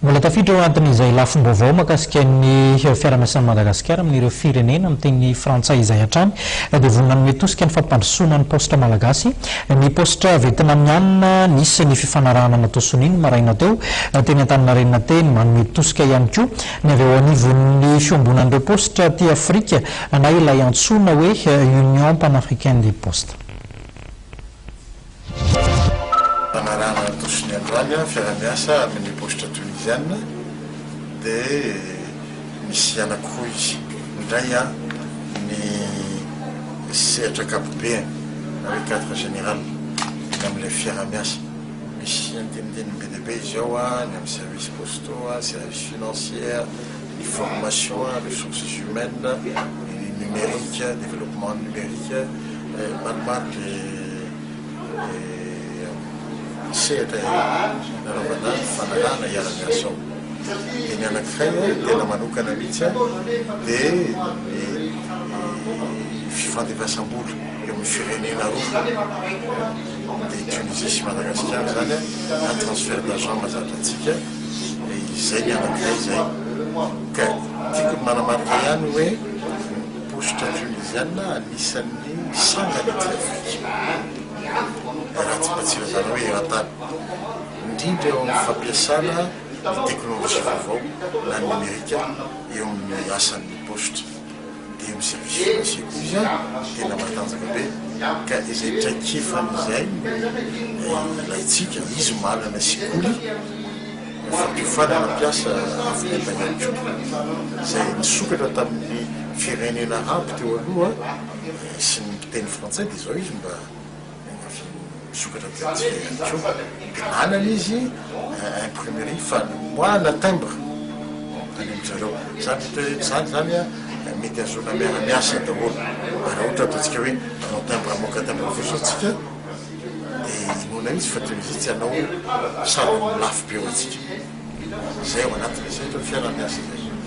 Mbola tafiditra ao anatin'izay lafim-baovao mahakasika ny fiaraha-miasan'i Madagasikara amin'ireo firenena miteny frantsay izay hatrany dia vonona hanome tosika ny fampandrosoana ny paositra malagasy ny paositra Vietnamiana. Nisy ny fifanarahana natao sonia ny maraina teo teny Antaninarenina teny. Manome tosika ihany koa ny avy ao anivon'ny fiombonan'ireo paositra aty Afrika na ilay antsoina hoe Union Panafricaine des Postes. Fanarahana ny tosony androany fiarahamiasa amin' ny Paositra Toniziana dia misy anankiroa izy. Ny iray ny sehatra ankapobeany na hoe cadre général ny amin' ilay fiarahamiasa. Misy andinindininy be dia be izy ao, ny amin' ny services postaux, services financiers. ny formation, ressources humaines, ny numérique, développement numérique, maromaro le sehatra nanaovana fanarahana hiara-miasa ao. Dia ny anankiray ny tena manokana mihitsy dia ny fifandefasam-bola eo amin'ny firenena roa, dia Tunisie sy Madagasikara izany na transfert d'argent mahazatra antsika. izay ny anankiray izay ka tiako ny manamarika ihany hoe postre tunisiana anisan'ny sangany aty Afrika raha tsy mba tsy ilazana hoe eran-tany indrindra eo amin'ny fampiasana ny teknolojia vaovao na ny nomerika eo amin'ny asan'ny postre dia miservice ny sekoly tena matanjaka be ka izay traikefany izay no ilaintsika, izy manana sekoly fampiofanana mpiasa avy any an-tany koa izay nisokatra tamin'ny firenena aby teo aloha sy ny mpiteny frantsay dia izao izy mba Miandrasa misokatra dia tsy ela ihany koa dia manana izy imprimerie fanombohana timbre any amin-dry zareo. Izany mety hoe tsy zany izany an, mety hahazoana miara-miasa daholo. Ary raha ohatra ataontsika hoe manao timbre hamoaka timbre fotsiny isika dia inoana mihitsy fa toy ny vitsy hanao sarony lafo be ho antsika. Izay ao anatiny izay, ohatra hoe fiara-miasa izay.